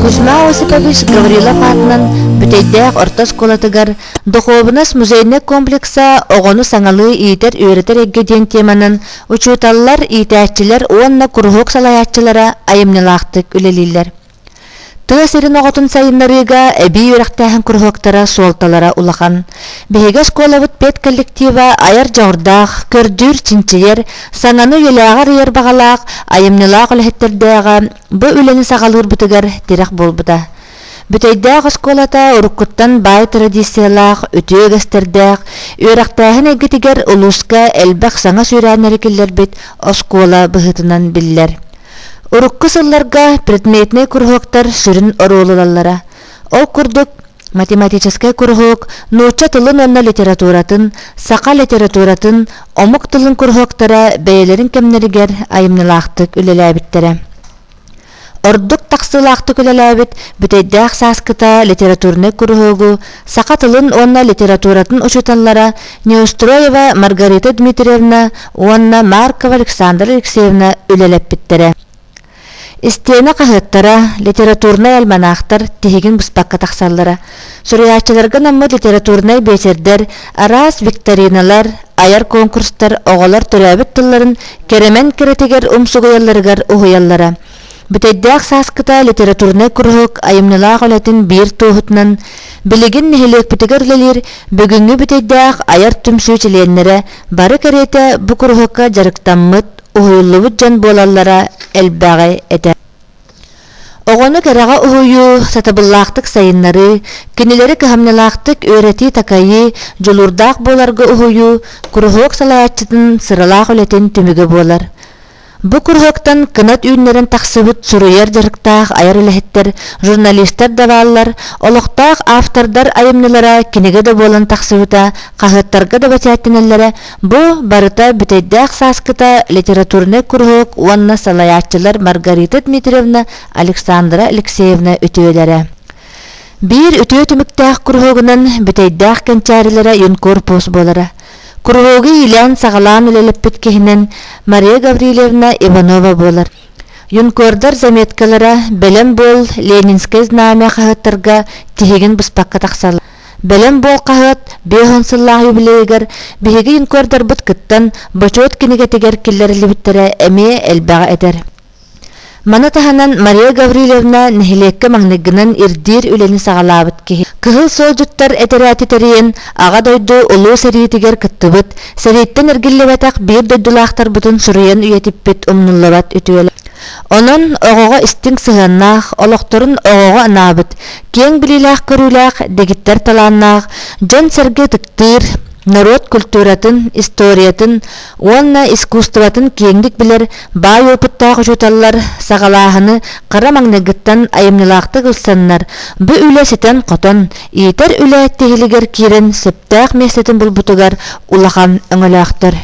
Кузьма Осипович Гаврилов аатынан Бүтэйдээх орто оскуолатыгар духуобунас-музейнай комплекса оҕону саҥалыы иитэр-үөрэтэр эйгэ диэн теманан учууталлар, иитээччилэр уонна куруһуок салайааччылара айымньылаахтык үлэлииллэр. Тыа сирин оҕотун сайыннарыыга эбии үөрэхтээһин куруһуоктара суолталара улахан. Биһиги оскуолабыт педколлектива айар дьоҕурдаах, көрдүүр, чинчийэр, сананы үйэлээҕэр ыйар баҕалаах, айымньылаах үлэһиттэрдээҕэ бу үлэни саҕалыырбытыгар тирэх буолбута. Бүтэйдээх оскуолата уруккуттан баай традициялаах, үтүө үгэстэрдээх, үөрэхтээһин эйгэтигэр улууска элбэх саҥа сүүрээннэри киллэрбит оскуола быһыытынан биллэр. Урукку сылларга предметнэй куруһуоктар сүрүн оруолу ылаллара. Ол курдук, математическай куруһуок нуучча тылын уонна литературатын, саха литературатын, омук тылын куруһуоктара бэйэлэрин кэмнэригэр айымньылаахтык үлэлээбиттэрэ. Ордук тахсыылаахтык үлэлээбит бүтэйдээх сааскыта литературнай куруһуогу саха тылын уонна литературатын учууталлара Неустроева Маргарита Дмитриевна уонна Маркова Александра Алексеевна үлэлэппиттэрэ. Истиэнэ хаһыаттара, литературнай альманаахтар тиһигин быспакка тахсаллара. Суруйааччыларга наммыт литературнай биэчэрдэр, араас викториналар, айар конкурстар оҕолор төрөөбүт тылларын кэрэмэн кэрэтигэр умсугуйалларыгар уһуйаллара. Бүтэйдээх сааскыта литературнай куруһук айымньылаах үлэтин биир туоһутунан билигин нэһилиэкпитигэр үлэлиир бүгүҥҥү бүтэйдээх айар түмсүү чилиэннэрэ бары кэриэтэ бу куруһукка дьарыктаммыт, уһуйуллубут дьон буолаллара элбэҕи этэр. Оҕону кэрэҕэ уһуйуу, сатабыллаахтык сайыннарыы, кинилэри кыһамньылаахтык үөрэтии-такайыы, дьулуурдаах буоларга уһуйуу куруһуок салайааччытын сыралаах үлэтин түмүгэ буолар. Бу куруһуоктан кынат үүннэрэн тахсыбыт суруйар дьарыктаах айар үлэһиттэр, журналистар да бааллар, олохтоох автордар айымньылара кинигэ да буолан тахсыбыта, хаһыаттарга да бэчээттэнэллэрэ, бу барыта бүтэйдээх сааскыта литературнай куруһуок уонна салайааччылар Маргарита Дмитриевна, Александра Алексеевна үтүөлэрэ. Биир үтүө түмүктээх куруһуогунан бүтэйдээх кэнчээрилэрэ юнкор пост буолара. Куруһуогу иилээн-саҕалаан үлэлэппит киһинэн Мария Гаврильевна Иванова буолар. Юнкордар заметкалара «Бэлэм буол» Ленинское знамя хаһыаттарга тиһигин быспакка тахсалар. Бэлэм буол хаһыат беһон сыллаах юбилейыгар биһиги юнкордарбыт кыттан бочуот кинигэтигэр киллэриллибиттэрэ эмиэ элбэҕи этэр. Маны таһынан Мария Гаврильевна нэһилиэккэ маҥнайгынан ирдиир үлэни саҕалаабыт киһи. Кыһыл суолдьуттар этэрээти тэрийэн Аҕа дойду Улуу сэриитигэр кыттыбыт, сэрииттэн эргиллибэтэх биир дойдулаахтарбытын суруйан үйэтиппит умнуллубат үтүөлээх. Онон оҕоҕо истиҥ сыһыаннаах, олохторун оҕоҕо анаабыт, киэҥ билиилээх-көрүүлээх, дэгиттэр талааннаах, дьон-сэргэ ытыктыыр, норуот культуратын, историятын уонна искусствотын киэҥник билэр Баай опыттаах учууталлар саҕалааһыны хара маҥнайгыттан айымньылаахтык ылсаннар, бу үлэ ситэн-хотон, иитэр үлэ тиһилигэр киирэн сөптөөх миэстэтин булбутугар улахан өҥөлөөхтөр.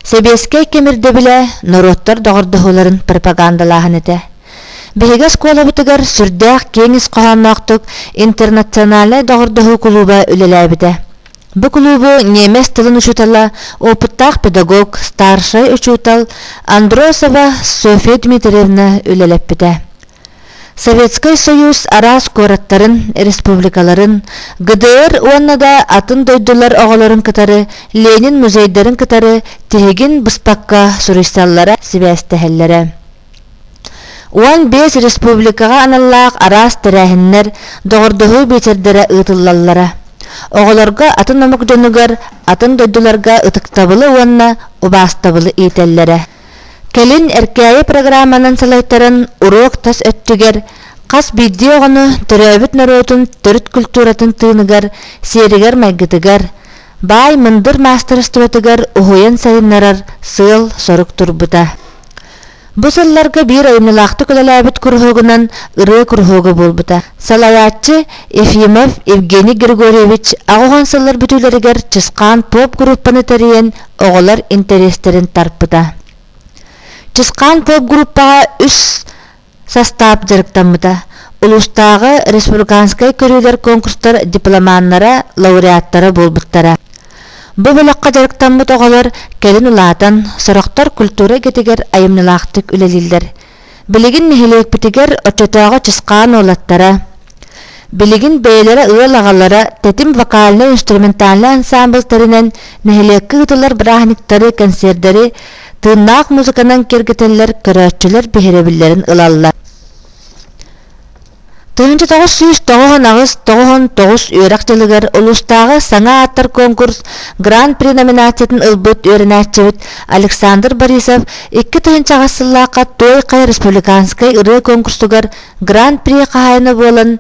Сэбиэскэй кэм ирдэбилэ норуоттар доҕордоһууларын пропагандалааһын этэ. Биһиги оскуолабытыгар сүрдээх киэҥ ис хоһоонноохтук интернациональнай доҕордоһуу кулууба үлэлээбитэ. Бу кулуубу немец тылын учутала, опыттаах педагог, старшай учутал Андросова Софья Дмитриевна үлэлэппитэ. Советскай Союз араас куораттарын, республикаларын, ГДР уонна да атын дойдулар оҕолорун кытары Ленин музейдарын кытары тиһигин быспакка суруйсаллара, сибээстэһэллэрэ. Уон биэс республикаҕа аналлаах араас тэрээһиннэр, доҕордоһуу биэчэрдэрэ ыытыллаллара. Оҕолорго атын омук дьонугар, атын дойдуларга ытыктабылы уонна убаастабылы иитэллэрэ. Кэлин Эркээйи программанан салайтаран уруок тас өттүгэр хас биирдии оҕону төрөөбүт норуотун төрүт культуратын тыыныгар, сиэригэр-майгытыгар, баай мындыр маастарыстыбатыгар уһуйан сайыннарар сыал-сорук турбута. Бу сылларга биир айымнылаахтык үлэлээбит куруһуогунан ырыа куруһуога буолбута. Салайааччы Ефимов Евгений Григорьевич аҕыһон сыллар бүтүүлэригэр Чысхаан поп группаны тэрийэн оҕолор интэриэстэрин тарпыта. Чысхаан поп группаҕа үс састаап дьарыктаммыта. Улуустааҕы республиканскай көрүүлэр конкурстар дипломаннара, лауреаттара буолбуттара. Бу бөлөххө дьарыктаммыт оҕолор кэлин улаатан, сорохтор культура идэтигэр айымньылаахтык үлэлииллэр. Билигин нэһилиэкпитигэр оччотооҕу чысхаан уолаттара, билигин бэйэлэрэ ыал аҕалара тэтим вокальнай-инструментальнай ансаамбыл тэринэн нэһилиэккэ ыытылар бырааһынньыктары, концердэри тыыннаах музыканан кэргэтэллэр көрөөччүлэр биһирэбиллэрин ылаллар тыһыынча тоҕус сүүс тоҕуһун аҕыс тоҕуһун тоҕус үөрэх дьылыгар улуустааҕы саҥа ааттар конкурс гран при номинациятын ылбыт үөрэнээччибит александр борисов икки тыһыынча аҕыс сыллаахха туойхай республиканскай ырыа конкурсугар гран при хаһаайына буолан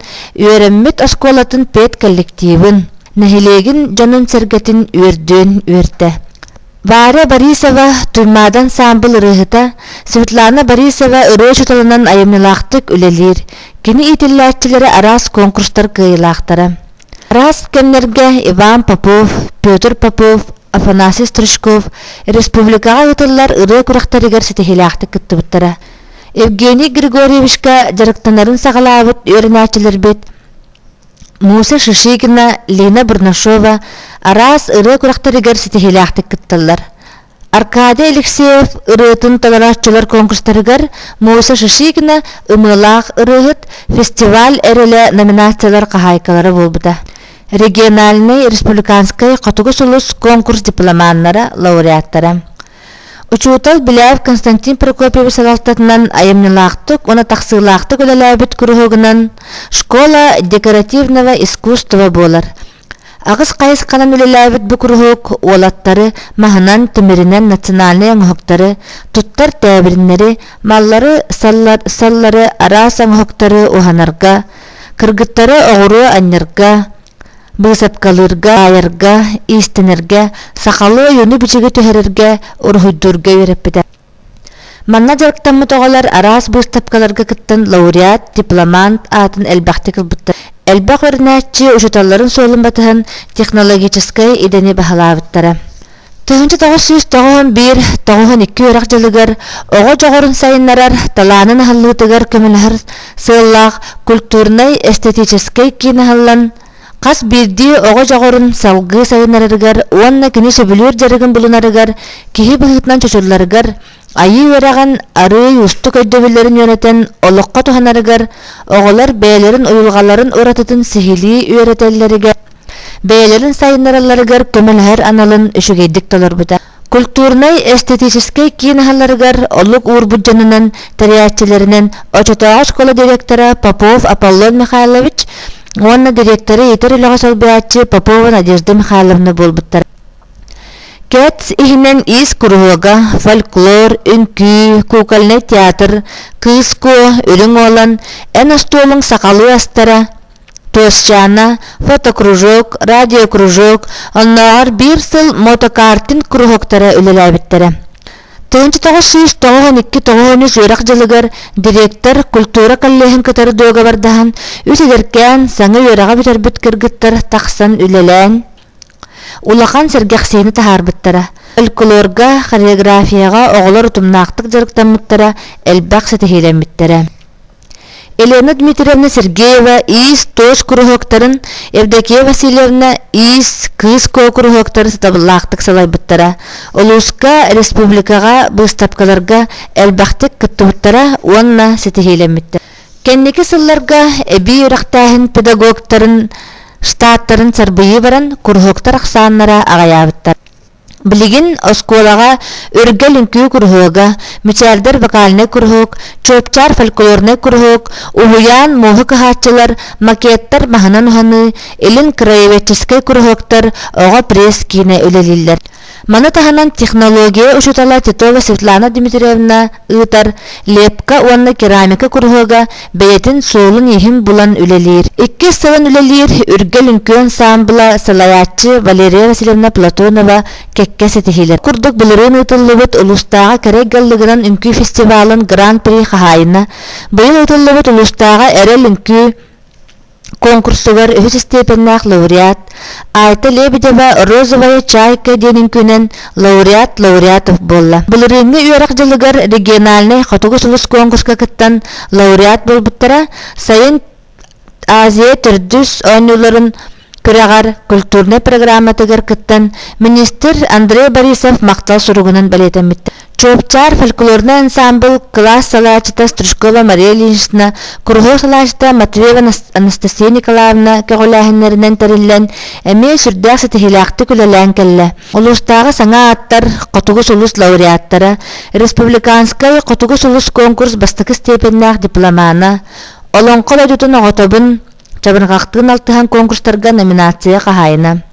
үөрэммит оскуолатын педколлективин нэһилиэгин дьонун-сэргэтин үөрдүөн үөртэ Варя Борисова Туймаада ансаамбыл ырыаһыта, Светлана Борисова ырыа учууталынан айымньылаахтык үлэлиир. Кини иитиллээччилэрэ араас конкурстар кыайыылаахтара. Араас кэмнэргэ Иван Попов, Петр Попов, Афанасий Стручков республикаҕа ыытыллар ырыа күрэхтэригэр ситиһиилээхтик кыттыбыттара. Евгений Григорьевичка дьарыктанарын саҕалаабыт үөрэнээччилэрбит Муся Шишигина, Лина Бурнашова араас ырыа күрэхтэригэр ситиһиилээхтик кытталлар. Аркадий Алексеев ырыатын толорооччулар конкурстарыгар Муса Шишигина ымыылаах ырыаһыт фестиваль эрэлэ номинациялар хаһаайкалара буолбута. Региональный республиканскай хотугу сулус конкурс дипломаннара, лауреаттара Учуутал Беляев Константин Прокопьевич салалтатынан айымньылаахтык уонна тахсыылаахтык үлэлээбит куруһуогунан школа декоративного искусства буолар. Аҕыс хайысханан үлэлээбит бу куруһуок уолаттары маһынан, тимиринэн национальнай оҥоһуктары, туттар тээбириннэри, маллары, саллары араас оҥоһуктары уһанарга, кыргыттары оҕуруо анньарга, Быысапкалыырга, аайарга, иистэнэргэ, сахалыы ойууну-бичиги түһэрэргэ, уруһуйдуурга үөрэппитэ. Манна дьарыктаммыт оҕолор араас быыстапкаларга кыттан лауреат, дипломант аатын элбэхтик ылбыттар. Элбэх өрүнээччи учууталларын суолун батыһан технологическай идэни баһылаабыттара. Тыһыынча тоҕус сүүс тоҕуһун биир тоҕуһун икки үөрэх дьылыгар оҕо дьоҕурун сайыннарар талаанын аһыллыытыгар көмөлөһөр сыаллаах культурнай-эстетическэй киин аһыллан, хас биирдии оҕо дьоҕурун салгыы сайыннарарыгар уонна кини сөбүлүүр дьарыгын булунарыгар, киһи быһыытынан чочулларыгар Айыы үөрэҕин арыый уустук өйдөбүллэрин үөрэтэн олоххо туһанарыгар, оҕолор бэйэлэрин уйулҕаларын уратытын сиһилии үөрэтэллэригэр, бэйэлэрин сайыннаралларыгар көмөлөһөр аналын үчүгэйдик толорбута. Культурнай-эстетическэй киинаһаларыгар олук уурбут дьонунан, тэрээччилэринэн очотооҕу школа директора Попов Аполлон Михайлович уонна директоры иитэр үлэҕэ солбуйааччы Попова Надежда Михайловна буолбуттар. Кэтс иһинэн ис куруһуога фольклор, үҥкүү, кукольный театр, кыыс куо, үрүҥ уолан, эн остуолуҥ сахалыы астара, Туосчаана, фотокружок, радиокружок, оннооҕор биир сыл мотокартин куруһуоктара үлэлээбиттэрэ. 1992-93 үөрэх дьылыгар директор культура коллеһын кытары дуогабардаһан, үт эдэркээн саҥа үөрэҕи бүтэрбит кыргыттар тахсан үлэлээн, Улахан сэргэхсийини таһаарбыттара. Фольклорга, хореографияҕа оҕолор утумнаахтык дьарыктаммыттара, элбэх ситиһиилэммиттэрэ. Елена Дмитриевна Сергеева иис туос куруһуоктарын, Евдокия Васильевна иис кыыс куокуруһуоктары сатабыллаахтык салайбыттара. Улууска, республикаҕа, быыстапкаларга элбэхтик кыттыбыттара уонна ситиһиилэммиттэрэ. Кэнники сылларга эбии үрэхтээһин педагогтарын штаттарын сарбыйыы баран, куруһуоктар ахсааннара аҕыйаабыттар. Билигин оскуолаҕа Үргэл үҥкүү куруһуога, Мичээрдэр вокальнай куруһуок, Чуопчаар фольклорнай куруһуок, Уһуйаан муоһу кыһааччылар, макеттар маһынан уһаныы, Илин краеведческай куруһуоктар, оҕо пресс-киинэ үлэлииллэр. Маны таһынан технология учетала Титова Светлана Дмитриевна ыытар лепка уонна керамика куруһуога бэйэтин суолун-ииһин булан үлэлиир. Иккис сылын үлэлиир үргэл үҥкүөн саамбыла салайааччы Валерия Васильевна Платонова кэккэ ситиһиилэр. Курдук былырыын ыытыллыбыт улуустааҕы Кэрэй Галлыгынан үҥкүү фестивалын гран-при хаһаайына, быйыл ыытыллыбыт улуустааҕы Эрэл үҥкүү Конкурсугар үһүс истиэпэннээх лауреат Айта Лебедева «Розовая чайка» диэн үҥкүүнэн лауреат лауреатов буолла. Былырыыҥҥы үөрэх дьылыгар региональнай хотугу сулус конкурска кыттан лауреат буолбуттара сайын Азия төрдүс оонньууларын күрэҕэр культурнай программатыгар кыттан, министр Андрей Борисов махтал суругунан бэлиэтэммиттэр. Чуопчаар фольклорнай ансаамбыл кылаас салаачыта Стручкова Мария Ильинична, куруһуок салаачыта Матвеева Анастасия Николаевна көҕүлээһиннэринэн тэриллэн, эмиэ сүрдээх ситиһиилээхтик үлэлээн кэллэ. Улуустааҕы саҥа ааттар Хотугу сулус лауреаттара, Республиканскай Хотугу сулус куонкурс бастакы степеннээх дипломана, Олоҥхо дойдутун оҕотобун, Чабырҕахтыын алтыһан куонкурстарга номинация хаһаайына.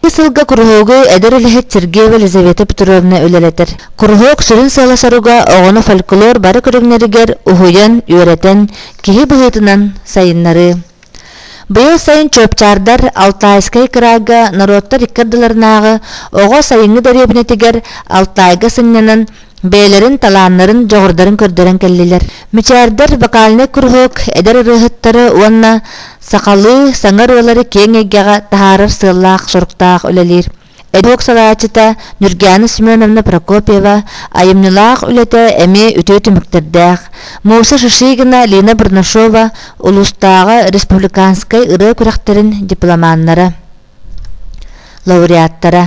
Ити сылга куруһуогу эдэр үлэһит Сергеева Елизавета Петровна үлэлэтэр. Куруһуок сүрүн сыала-соруга оҕону фольклор бары көрүҥнэригэр уһуйан, үөрэтэн, киһи быһыытынан сайыннарыы. Быйыл сайын чөопчаардар Алтайскай кыраага норуоттар икки ардыларынааҕы оҕо сайыҥҥы дэриэбинэтигэр Алтайга сынньанан бэйэлэрин талааннарын дьоҕурдарын көрдөрөн кэллилэр мичээрдэр вокальный куруһуок эдэр ырыаһыттары уонна сахалыы саҥа ырыалары киэҥ эйгэҕэ таһаарар сыаллаах соруктаах үлэлиир эдук салаачыта Нюргиана Семеновна Прокопьева айымньылаах үлэтэ эмиэ үтүө түмүктэрдээх Муса Шишигина Лина Барнашова улуустааҕы республиканскай ырыа күрэхтэрин дипломаннара лауреаттара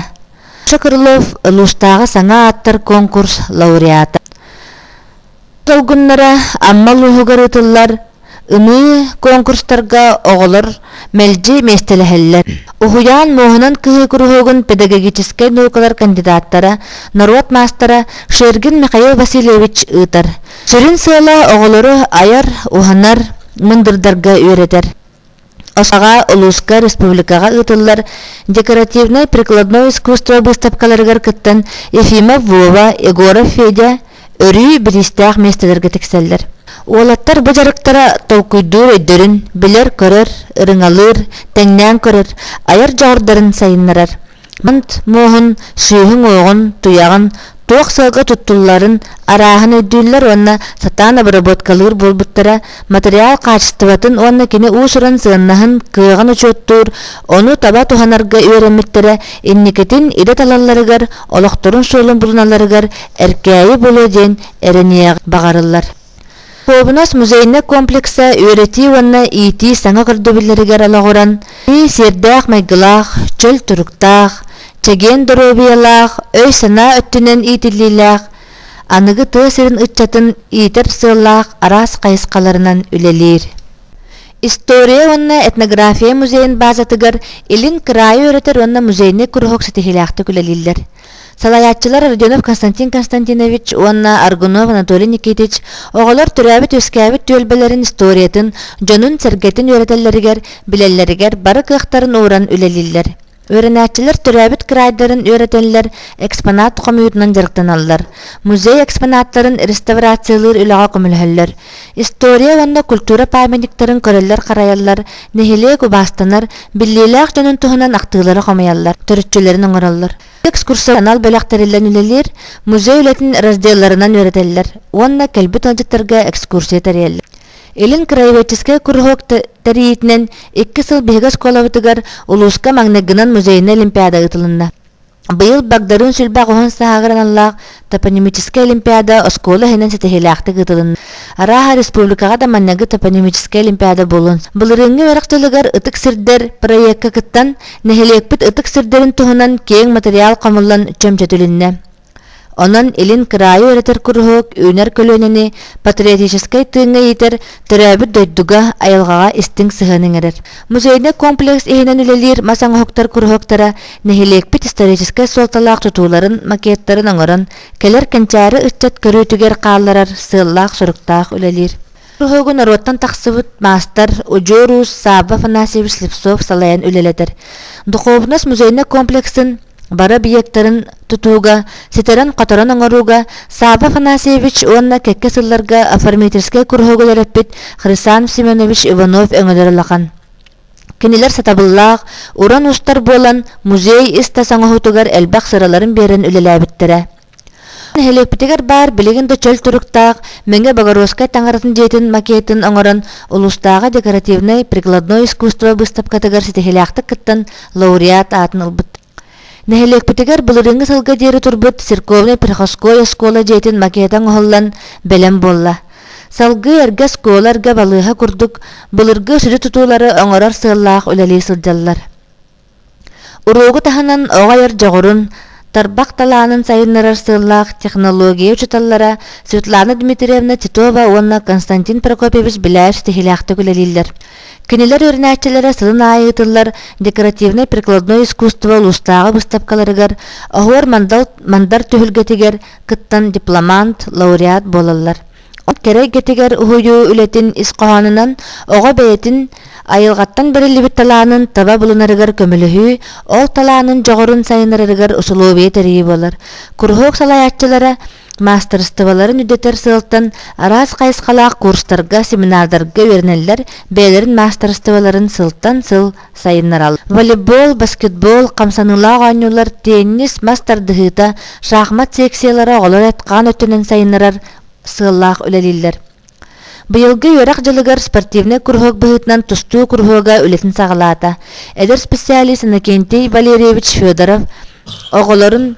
Чакырлов Луустааҕы саҥа ааттар конкурс лауреата. Долгуннара Амма улууһугар ыытыллар ыныы конкурстарга оҕолор мэлдьи миэстэлэһэллэр. Уһуйаан муоһунан кыһы куруһуогун педагогическай наукалар кандидаттара, норуот маастара Шергин Михаил Васильевич ыытар. Сүрүн сыала оҕолору айар, уһанар, мындырдарга үөрэтэр. ОСАГА улууска республикаҕа ыытыллар декоративнай-прикладное искусство быыстапкаларыгар кыттан Ефимов Вова, Егоров Федя өрүү бириистээх миэстэлэргэ тиксэллэр. Уолаттар бу дьарыктара толкуйдуур өйдөрүн билэр-көрөр, ырыҥалыыр, тэҥнээн көрөр, айар дьоҕурдарын сайыннарар. муоһун, сүүһүн-уоҕун, туйаҕын, туох сыалга туттулларын арааһын өйдүүллэр уонна сатаан обработкалыыр буолбуттара материал хаачыстыбатын уонна кини уус-уран сыаннаһын кыаҕын учуоттуур, ону таба туһанарга үөрэммиттэрэ инникитин идэ талалларыгар, олохторун суолун булуналарыгар эркээйи булуо диэн эрэниэх баҕарыллар. Повнос музейнай комплекса үөрэтии уонна иитии саҥа көрдөбүллэригэр олоҕуран, сиэрдээх майгылаах, чөл туруктаах, чэгиэн доруобуйалаах, өй-санаа өттүнэн иитиллиилээх, аныгы тыа сирин ыччатын иитэр сыаллаах араас хайысхаларынан үлэлиир. История уонна этнография музейын баазатыгар илин кыраайы үөрэтэр уонна музейнай куруһук ситиһиилээхтик үлэлииллэр. Салайааччылар Родионов Константин Константинович уонна Аргунов Анатолий Никитич оҕолор төрөөбүт-үөскээбит түөлбэлэрин историятын, дьонун-сэргэтин үөрэтэллэригэр, билэллэригэр бары кыахтарын ууран үлэлииллэр. Үөрэнээччилэр төрөөбүт крайдарын үөрэтэллэр, экспонат хомуйуутунан дьарыктаналлар. Музей экспонаттарын реставрациялыыр үлэҕэ көмөлөһөллөр. история уонна культура памятниктарын көрөллөр-харайаллар, нэһилиэк убаастанар, биллиэлээх дьонун туһунан ахтыылары хомуйаллар, төрүччүлэрин оҥороллор. Экскурсия анал бөлөх тэриллэн үлэлиир, музей үлэтин разделларынан үөрэтэллэр уонна кэлбит ыалдьыттарга экскурсия тэрийэллэр. Илин краеведческай куруһуок тэрийиитинэн икки сыл биһиги оскуолабытыгар улууска магнитгынан музейнай олимпиада ыытылынна. Быйыл Багдарын сүлбэх уһун сааһыгар аналлаах топонимическай олимпиада оскуола иһинэн ситиһиилээхтик ыытылынна. Арааһа республикаҕа да манныгы топонимическай олимпиада буолун. Былырыыҥҥы үөрэх тылыгар ытык сирдэр проекка кыттан, нэһилиэкпит ытык сирдэрин туһунан киэҥ материал хомуллан чөмчөтүлүннэ. Онон илин кыраайы үөрэтэр куруһуок үүнэр көлүөнэни патриотическай тыыҥҥа иитэр төрөөбүт дойдуга, айылҕаҕа истиҥ сыһыан иҥэрэр. Музейнай комплекс иһинэн үлэлиир мас оҥоһуктар куруһуоктара нэһилиэкпит историческай суолталаах тутууларын макеттарын оҥорон, кэлэр кэнчээри ыччат көрүүтүгэр хаалларар сыаллаах-соруктаах үлэлиир. Куруһуогу норуоттан тахсыбыт маастар, удьуор уус Саба Афанасьевич Слепцов салайан үлэлэтэр. Духуобунас музейнай комплексын бары объектарын тутууга, ситэрэн-хоторон оҥорууга Сааба Афанасьевич уонна кэкке сылларга оформительскай куруһуогу төрөппүт Хрисанов Семенович Иванов өҥөлөр улахан. Кинилэр сатабыллаах, уран устар буолан, музей ис-тас оҥоһуутугар элбэх сыраларын биэрэн үлэлээбиттэрэ. Нэһилиэкпитигэр баар билигин да чөл туруктаах Мэҥэ Богородскай таҥаратын дьиэтин макетын оҥорон, улуустааҕы декоративнай прикладное искусство быыстапкатыгар ситиһиилээхтик кыттан, лауреат аатын ылбыт. Нэһилиэкпитигэр былырыыҥҥы сылга диэри турбут церковнай приходской оскуола дьиэтин макета оҥоһуллан бэлэм буолла. Салгыы эргэ оскуола эргэ балыыһа курдук, былыргы сүдү тутуулары оҥорор сыаллаах үлэлии сылдьаллар. Уруогу таһынан оҕо айар дьоҕурун, тарбах талаанын сайыннарар сыаллаах технология учууталлара Светлана Дмитриевна Титова уонна Константин Прокопьевич Беляев ситиһиилээхтик үлэлииллэр. Кинилэр үөрэнээччилэрэ сылын аайы ыытыллар декоративнай прикладное искусство улуустааҕы быстапкаларыгар, оһуор-мандар түһүлгэтигэр кыттан дипломант, лауреат буолаллар. кэрэ эйгэтигэр уһуйуу үлэтин ис хоһоонунан оҕо бэйэтин айылҕаттан бэриллибит талаанын таба булунарыгар көмөлөһүү ол талаанын дьоҕурун сайыннарарыгар усулуобуйа тэрийии буолар куруһуок салайааччылара маастарыстыбаларын үрдэтэр сыалтан араас хайысхалаах курстарга семинардарга үөрэнэллэр бэйэлэрин маастарыстыбаларын сылтан сыл сайыннараллар. Волейбол, баскетбол хамсаныылаах оонньуулар теннис, мас тардыһыыта, шахмат секциялара оҕолор этхаан өттүнэн сайыннарар сыаллаах үлэлииллэр. Быйылгы үөрэх дьылыгар спортивный куруһуок быһыытынан тустуу куруһуога үлэтин саҕалаата. Эдэр специалист Иннокентий Валерьевич Федоров оҕолорун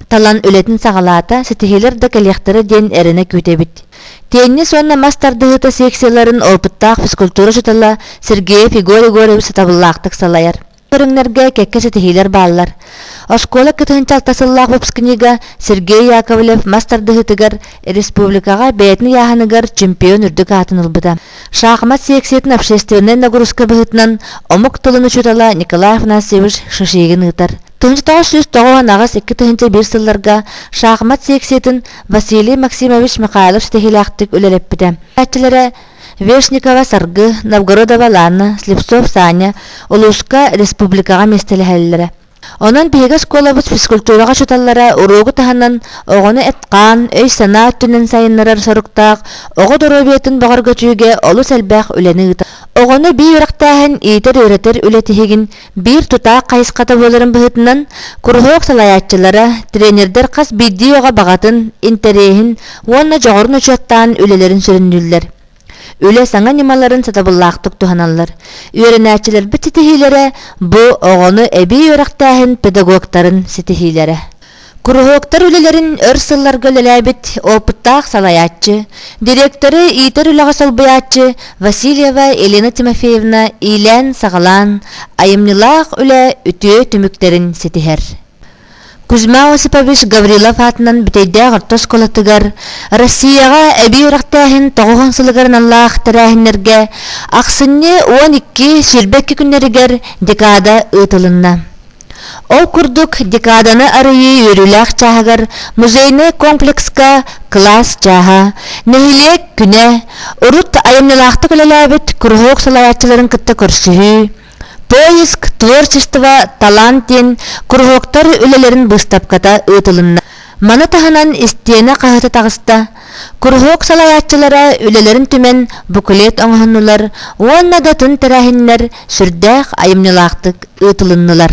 Талан үлэтин саҕалаата, ситиһиилэр да кэлиэхтэрэ диэн эрэнэ күүтэбит. Теннис уонна мас тардыһыыта секцияларын опыттаах физкультура учуутала Сергей Фигорь Егорович сатабыллаахтык салайар. Көрүҥнэргэ кэккэ ситиһиилэр бааллар. Оскуола кытыһынча алта сыллаах выпускнига Сергей Яковлев мас тардыһыытыгар республикаҕа бэйэтин ыйааһыныгар чемпион үрдүк аатын ылбыта. Шахмат секциятын общественнай нагрузка быһыытынан омук тылын учуутала Николай Афанасьевич Шишигин ыытар. Туунчатаҕа сүүс тоҕус аҕыс икки тыһыынча биир сылларга шахмат секциятын Василий Максимович Михайлов ситиһиилээхтик үлэлэппитэ. Үөрэнээччилэрэ Вешникова Саргы, Новгородова Ланна, Слепцов Саня улууска, республикаҕа миэстэлэһэллэрэ. Онон биһиги оскуолабыт физкультураҕа учууталлара уруогу таһынан оҕону эт-хаан, өй-санаа өттүнэн сайыннарар соруктаах оҕо доруобуйатын бөҕөргөтүүгэ олус элбэх үлэни ыытар. Оҕону бии үрэхтээһин, иитэр-үөрэтэр үлэ тиһигин Биир тутаах хайысхата буоларын быһытынан, куруһуок салайааччылара, тренердэр хас биирдии оҕо баҕатын, интэриэһин уонна дьоҕурун учуоттаан үлэлэрин сүрүннүүллэр. Үлэ саҥа ньымаларын сатабыллаахтык туһаналлар. Үөрэнээччилэрбит ситиһиилэрэ бу оҕону эбии үөрэхтээһин педагогтарын ситиһиилэрэ. Куруһуоктар үлэлэрин өр сылларга үлэлээбит опыттаах салайааччы, директоры иитэр үлэҕэ солбуйааччы Васильева Елена Тимофеевна иилээн-саҕалаан айымньылаах үлэ үтүө түмүктэрин ситиһэр. Кузьма Осипович Гаврилов аатынан бүтэйдээх орто оскуолатыгар Россияҕа эбии үрэхтээһин тоҕуһун сылыгар аналлаах тэрээһиннэргэ ахсынньы 12 сирбэкки күннэригэр декада ыытылынна. Ол курдук, декаданы арыйыы үөрүүлээх чааһыгар музейнай комплекска кылаас чааһа, нэһилиэк күнэ, урут айымньылаахтык үлэлээбит куруһуок салайааччыларын кытта көрсүһүү, Поиск творчества талант диэн куруһуоктар үлэлэрин быыстапката ыытылынна. Маны таһынан истиэнэ хаһыта таҕыста, Куруһуок салайааччылара үлэлэрин түмэн буклет оҥоһуннулар уонна да тын тэрээһиннэр сүрдээх айымньылаахтык ыытылыннылар.